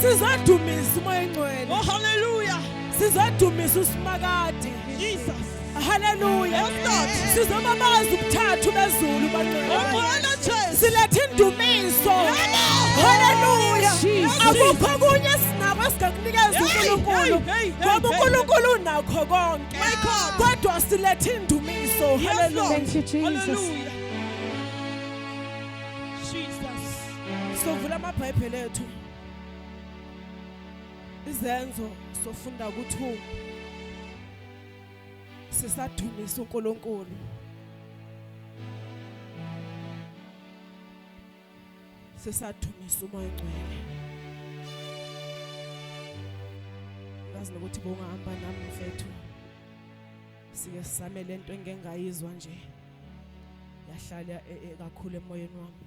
Sizodumisa umoya engcwele. Oh hallelujah. Sizodumisa usimakade. Jesus. Hallelujah. Yes Lord. Sizobabaza ubuthathu bezulu bangcwele. Oh Bwana Jesu. Silethe indumiso. Hallelujah. Akukho kunye sinabo sikakunikeza uNkulunkulu. Ngoba uNkulunkulu unakho konke. My God. Kodwa silethe indumiso. Hallelujah. Thank you Jesus. Hallelujah. Sovula amabhayibheli ethu. Izenzo sofunda ukuthi sisadumisa uNkulunkulu. Sisadumisa umoya ongcwele. Ngazi nokuthi bongahamba nami mfethu. Sike sisamele into engengayizwa nje. Yahlala e, e, kakhulu emoyeni wami.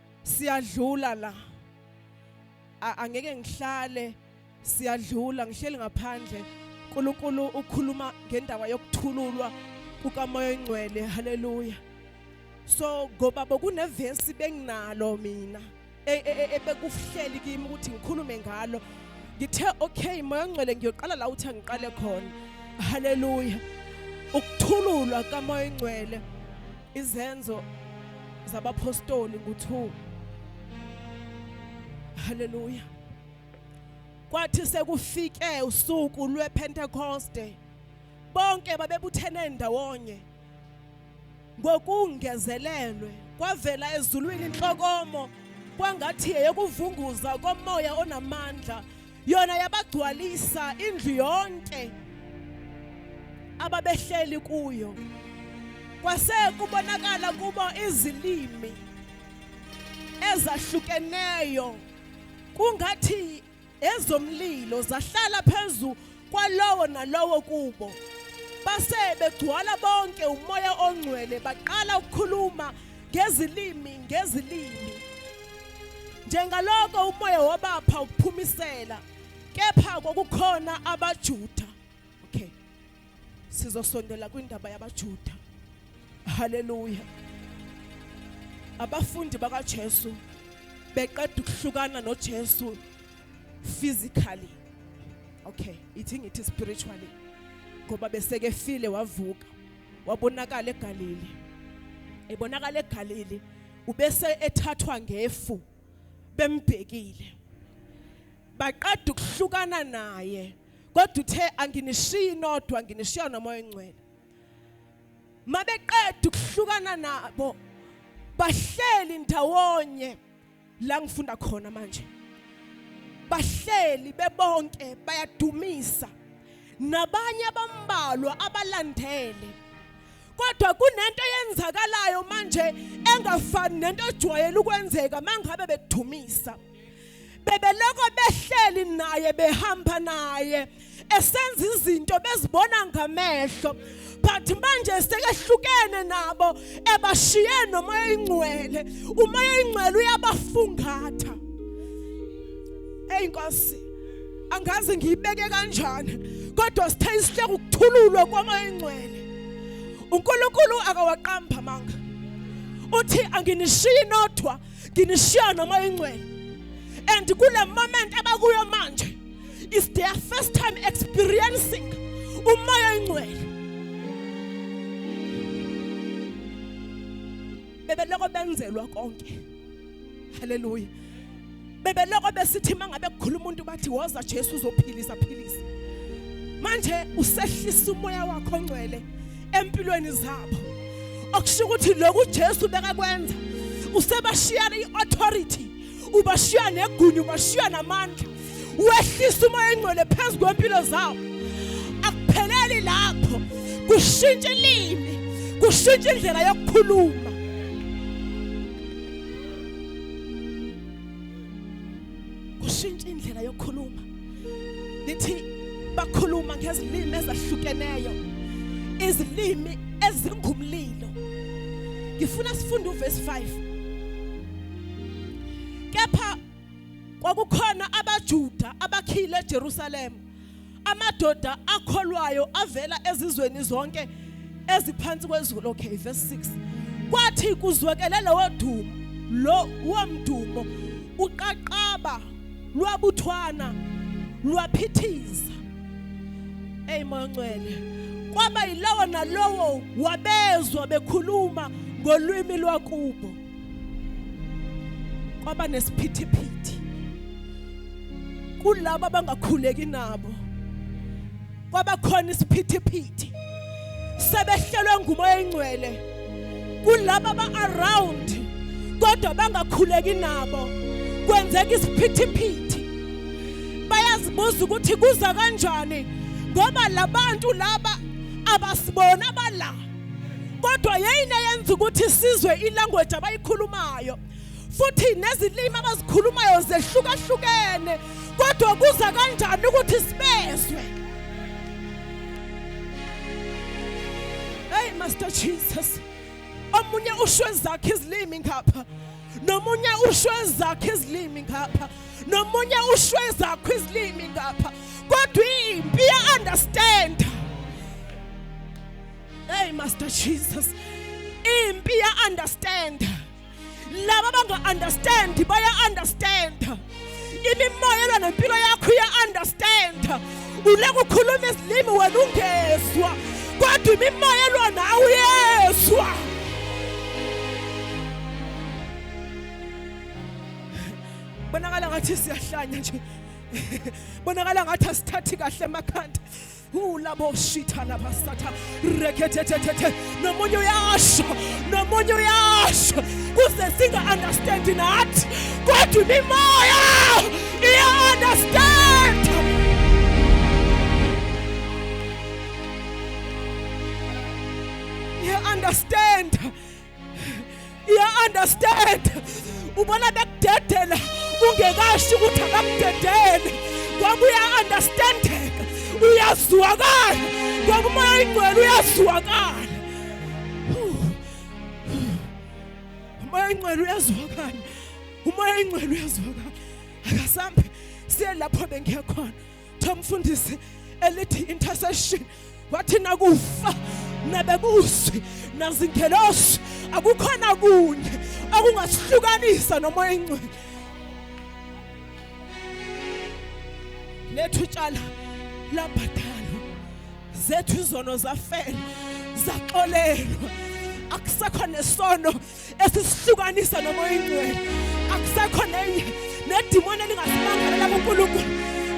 siyadlula la angeke ngihlale siyadlula ngihleli ngaphandle uNkulunkulu ukhuluma ngendaba yokuthululwa kukamoya oyingcwele haleluya so ngoba bokunevesi benginalo mina e, e, e, ebekuhleli kimi ukuthi ngikhulume ngalo ngithe okay moya ongcwele ngiyoqala la uthi angiqale khona haleluya ukuthululwa kamoya ongcwele Izenzo zabaphostoli ngo-2 haleluya kwathi sekufike usuku lwepentekoste bonke babebuthene ndawonye ngokungezelelwe kwavela ezulwini inhlokomo kwangathi yeyokuvunguza komoya onamandla yona yabagcwalisa indlu yonke ababehleli kuyo kwase kubonakala kubo izilimi ezahlukeneyo kungathi ezomlilo zahlala phezu kwalowo nalowo kubo base begcwala bonke umoya ongcwele baqala ukukhuluma ngezilimi ngezilimi njengaloko umoya wabapha ukuphumisela kepha kokukhona abaJuda okay sizosondela kwindaba yabaJuda haleluya abafundi bakaJesu beqeda ukuhlukana noJesu physically okay ithi ngithi spiritually ngoba beseke file wavuka wabonakala eGalili ebonakala eGalili ubese ethathwa ngefu bembhekile baqeda ukuhlukana naye kodwa uthe anginishiyi nodwa nginishiya nomoya ongcwele mabeqeda ukuhlukana nabo bahleli ndawonye la ngifunda khona manje bahleli bebonke bayadumisa nabanye abambalwa abalandele kodwa kunento eyenzakalayo manje engafani nento ojwayele ukwenzeka mangabe bedumisa bebeloko behleli naye behamba naye esenza izinto bezibona ngamehlo but manje sekehlukene nabo ebashiye nomoya ingcwele umoya ingcwele uyabafungatha hey nkosi angazi ngiyibeke kanjani kodwa sithe isihleke ukuthululwa kwamoya ingcwele uNkulunkulu akawaqamba manga uthi anginishiyi nodwa nginishiya nomoya ingcwele and kule moment abakuyo manje is their first time experiencing umoya oyingcwele bebeloko benzelwa konke haleluya bebeloko besithi mangabe kukhuluma umuntu bathi woza Jesu uzophilisa philisa manje usehlisa umoya wakho ongcwele empilweni zabo okusho ukuthi lokhu Jesu bekakwenza usebashiyana iauthority ubashiya negunya ubashiya namandla wehlisa umoya engcwele phezu kwempilo zawo akupheleli lapho kushintsha ilimi kushintsha indlela yokukhuluma kushintsha indlela yokukhuluma lithi bakhuluma ngezilimi ezahlukeneyo izilimi ezingumlilo ngifuna sifunde uvesi 5 kepha kwakukhona abaJuda abakhile eJerusalem amadoda akholwayo avela ezizweni zonke eziphansi kwezulu okay verse 6 kwathi kuzwekele lowo dumo lo womdumo uqaqaba lwabuthwana lwaphithiza hey moncwele kwaba yilowo nalowo wabezwa bekhuluma ngolwimi lwakubo kwaba nesiphithiphithi kulabo abangakhuleki nabo kwaba khona isiphithiphithi sebehlelwe ngumoya engcwele kulabo aba-around kodwa bangakhuleki nabo kwenzeka isiphithiphithi bayazibuza ukuthi kuza kanjani ngoba labantu laba abasibona abala kodwa yeyini eyenza ukuthi isizwe ilanguage abayikhulumayo futhi nezilimi abazikhulumayo zehlukahlukene kodwa kuza kanjani ukuthi sibezwe hey master jesus omunye usho ezakhe izilimi ngapha nomunye usho ezakhe izilimi ngapha nomunye usho ezakhe izilimi ngapha kodwa impi ya understand Hey Master Jesus. Impi ya understand. Laba banga understand baya understand. Imimoya elwa nempilo yakho iya understand. Ule kukhuluma isilimi wena ungezwa. Kodwa imimoya elwa nawe uyezwa. Bonakala ngathi siyahlanya nje. Bonakala ngathi asithathi kahle emakhanda. ulaboshitha labasatha rekhethethethe nomunye uyasho nomunye uyasho kuze singa-understand nathi kodwa imimoya iya-understand iya-understand iya understand ubona bekudedela ungekasho ukuthi akakudedele kwakuya understandeka uyazwakala kwakumoya ingcwele uyazwakala umoya ingcwele uyazwakala umoya ingcwele uyazwakala akasambe siye lapho bengiya khona Cha mfundisi elithi intercession wathi nakufa nabebusi nazingelosi akukhona kunye okungasihlukanisa nomoya ingcwele lethu tshala labhadalwa zethu izono zafela zaxolelwa akusekho nesono esisihlukanisa nomoya ingcwele akusekho nenye nedimoni elingasimangalela kuNkulunkulu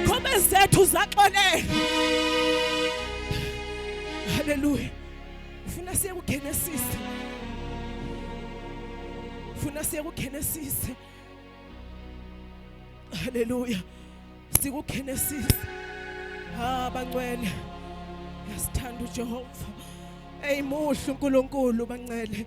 khombe zethu zaxolele haleluya ufuna siye kuGenesis ufuna siye kuGenesis haleluya sikuGenesis ha bangcwele yasithanda uJehova eyimuhle uNkulunkulu bancele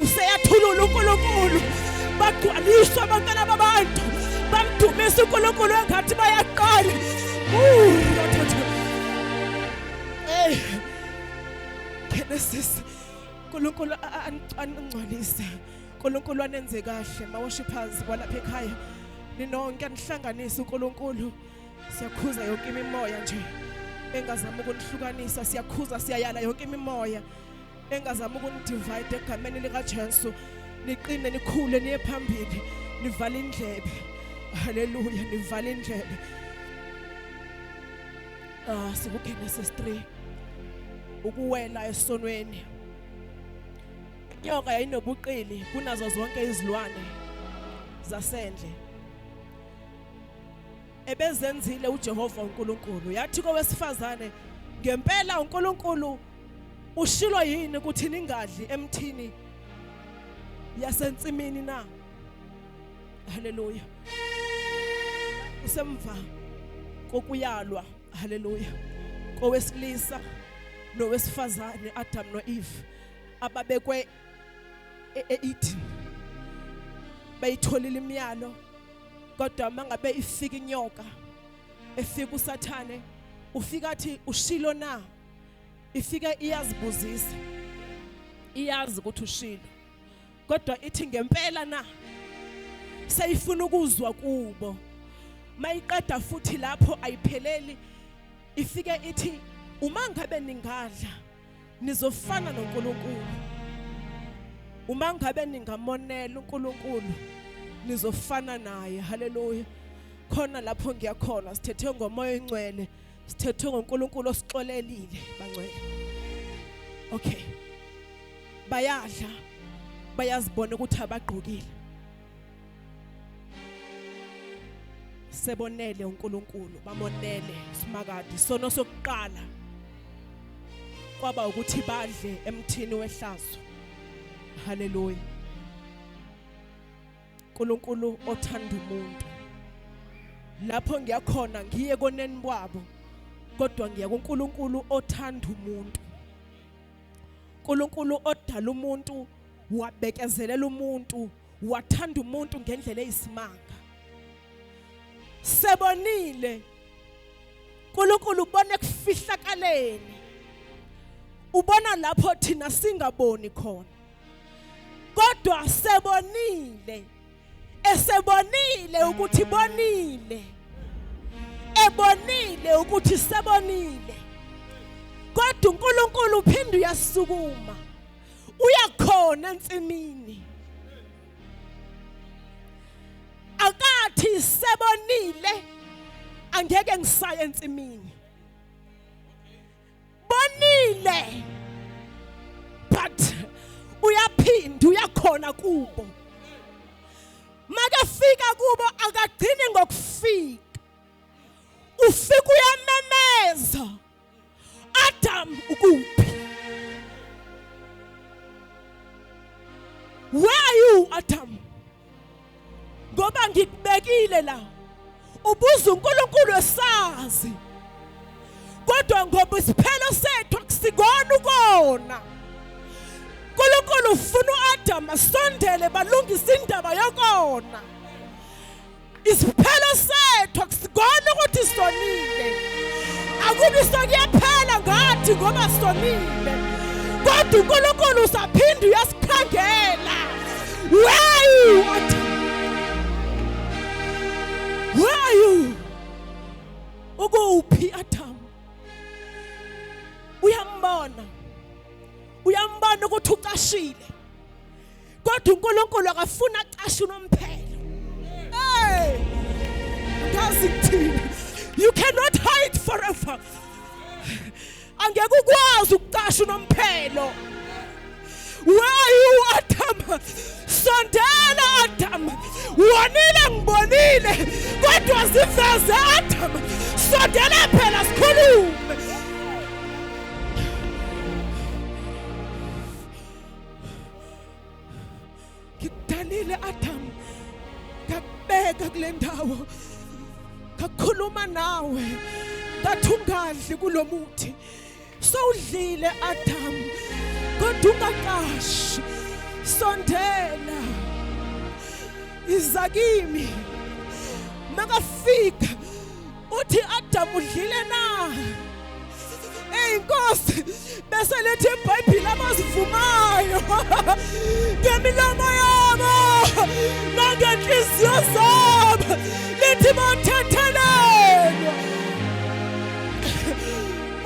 useyathulula uNkulunkulu bagcwaliswa abantwana babantu bamdumisa uNkulunkulu engathi bayaqala Hey Genesis uNkulunkulu aningcwalise uNkulunkulu anenze kahle ma worshipers kwalapha ekhaya ninonke anihlanganise uNkulunkulu siyakhuza yonke imimoya nje engazama ukunihlukanisa siyakhuza siyayala yonke imimoya engazama ukunidivide egameni likaJesu niqine nikhule niye phambili nivala indlebe haleluya nivala indlebe ah sikugenesis 3 ukuwela esonweni inyoka yayinobuqili kunazo zonke izilwane zasendle ebezenzile uJehova uNkulunkulu yathi kowesifazane ngempela uNkulunkulu ushilo yini ukuthi ningadli emthini yasensimini na haleluya usemva kokuyalwa haleluya kowesilisa nowesifazane Adam noEve ababekwe e-, eEden bayitholile imiyalo kodwa mangabe ifika inyoka efika usathane ufika athi ushilo na ifike iyazibuzisa iyazi ukuthi ushilo kodwa ithi ngempela na seyifuna ukuzwa kubo mayiqeda futhi lapho ayipheleli ifike ithi uma ngabe ningadla nizofana noNkulunkulu uma ngabe ningamonela uNkulunkulu nizofana naye haleluya khona lapho ngiyakhona sithethe ngomoya oyingcwele sithethwe ngoNkulunkulu osixolelile bangcwele okay bayadla bayazibona ukuthi abagqokile sebonele uNkulunkulu bamonele simakade sono sokuqala kwaba ukuthi badle emthini wehlazo haleluya uNkulunkulu othanda umuntu lapho ngiyakhona ngiye koneni babo kodwa ngiya kuNkulunkulu othanda umuntu uNkulunkulu odala umuntu wabekezelela umuntu wathanda umuntu ngendlela eyisimanga sebonile uNkulunkulu ubona ekufihlakaleni ubona lapho thina singaboni khona kodwa sebonile esebonile ukuthi bonile ebonile ukuthi sebonile kodwa uNkulunkulu uphinde uyasukuma uyakhona ensimini akathi sebonile angeke ngisaye ensimini bonile but uyaphinda uyakhona kubo makafika kubo akagcini ngokufika ufika uyamemeza Adam ukuphi where are you Adam ngoba ngikubekile la ubuza uNkulunkulu esazi kodwa ngoba isiphelo sethu akusikona ukona uNkulunkulu ufuna uAdam asondele balungise indaba yokona Isiphelo sethu akusikona ukuthi sonile. Akubi sokuyaphela ngathi ngoba sonile. Kodwa uNkulunkulu usaphinde uyasikhangela. Where you? Where you? Ukuphi Adam? Uyambona. Uyambona ukuthi ucashile. kodwa uNkulunkulu akafuna acashe unomphelo hey ngazi kuthini you cannot hide forever angeke ukwazi ukucasha unomphelo where you adam sondela adam wonile ngibonile kodwa ziveze adam sondela phela sikhulume ngikudalile Adam ngakubeka kule ndawo ngakhuluma nawe ngathi ungadli kulomuthi sowudlile Adam kodwa ungaqashi sondela iza kimi makafika uthi Adam udlile na Hey Nkosi bese lethi iBhayibheli abazivumayo ngemilomo yabo nangenhliziyo zabo lithi bathethelelwa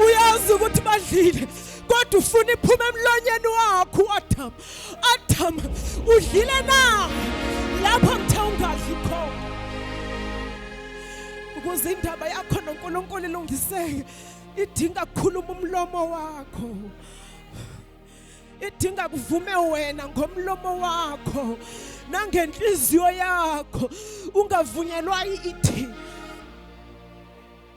uyazi ukuthi badlile kodwa ufuna iphume emlonyeni wakho uAdam Adam udlile na lapho ngithe ungadli khona ukuze indaba yakho noNkulunkulu ilungiseke idinga kukhuluma umlomo wakho idinga kuvume wena ngomlomo wakho nangenhliziyo yakho ungavunyelwa ithi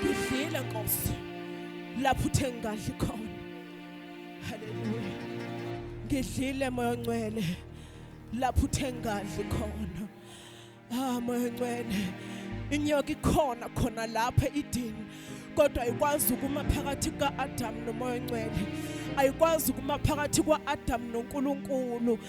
ngidlile nkosi lapho uthe ngingadli khona haleluya ngidlile moya ongcwele lapho uthe ngingadli khona ah moya ongcwele inyoka ikhona khona lapha idini kodwa ayikwazi ukuma phakathi ka-adamu nomoya ongcwele ayikwazi ukuma phakathi kwa-adamu nonkulunkulu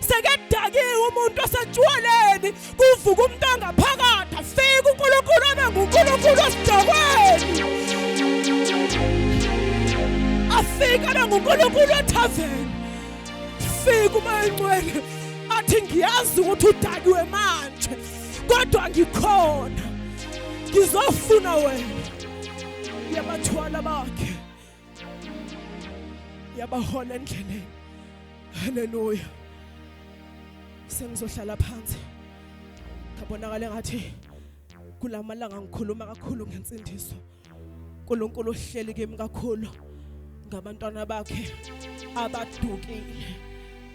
sekedakiwe umuntu osetshwaleni kuvuka umuntu angaphakathi afike uNkulunkulu abe nguNkulunkulu osidakweni afike abe nguNkulunkulu ethaveni fika uma encwele athi ngiyazi ukuthi udakiwe manje kodwa ngikhona ngizofuna wena yabathwala bakhe yabahola endleleni haleluya sengizohlala phansi ngabonakala ngathi kulamalanga ngikhuluma kakhulu ngensindiso uNkulunkulu uhleli kimi kakhulu ngabantwana bakhe abadukile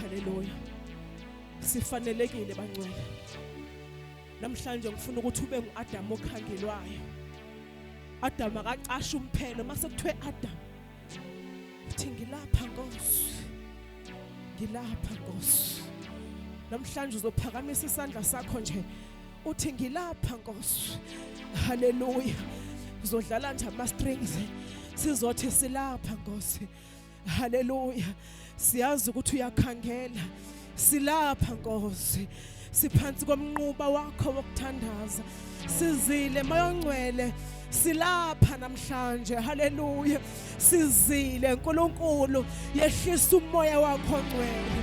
Haleluya. Sifanelekile bangcwele. Namhlanje ngifuna ukuthi ube nguAdam okhangelwayo. Adam akacasha umphelo mase kuthiwe Adam. Uthi ngilapha Nkosi. Ngilapha Nkosi. Namhlanje uzophakamisa isandla sakho nje. Uthi ngilapha Nkosi. Haleluya. Uzodlala nje ama strings. Sizothi silapha Nkosi. haleluya siyazi ukuthi uyakhangela silapha nkosi siphansi komnquba wakho wokuthandaza sizile mayongcwele silapha namhlanje haleluya sizile nkulunkulu yehlisa umoya wakho ngcwele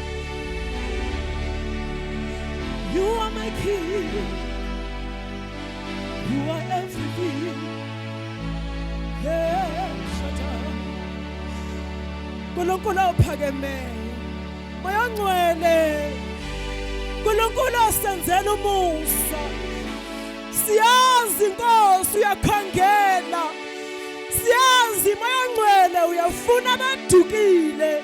You are my king. You are everything. Yeah, shut up. Nkulunkulu ophakemeyo. Moya ngcwele. Nkulunkulu osenzela umusa. Siyazi Nkosi uyakhangela. Siyazi moya ngcwele uyafuna abadukile.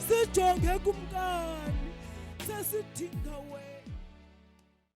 sijonge kumkani sesidinga wena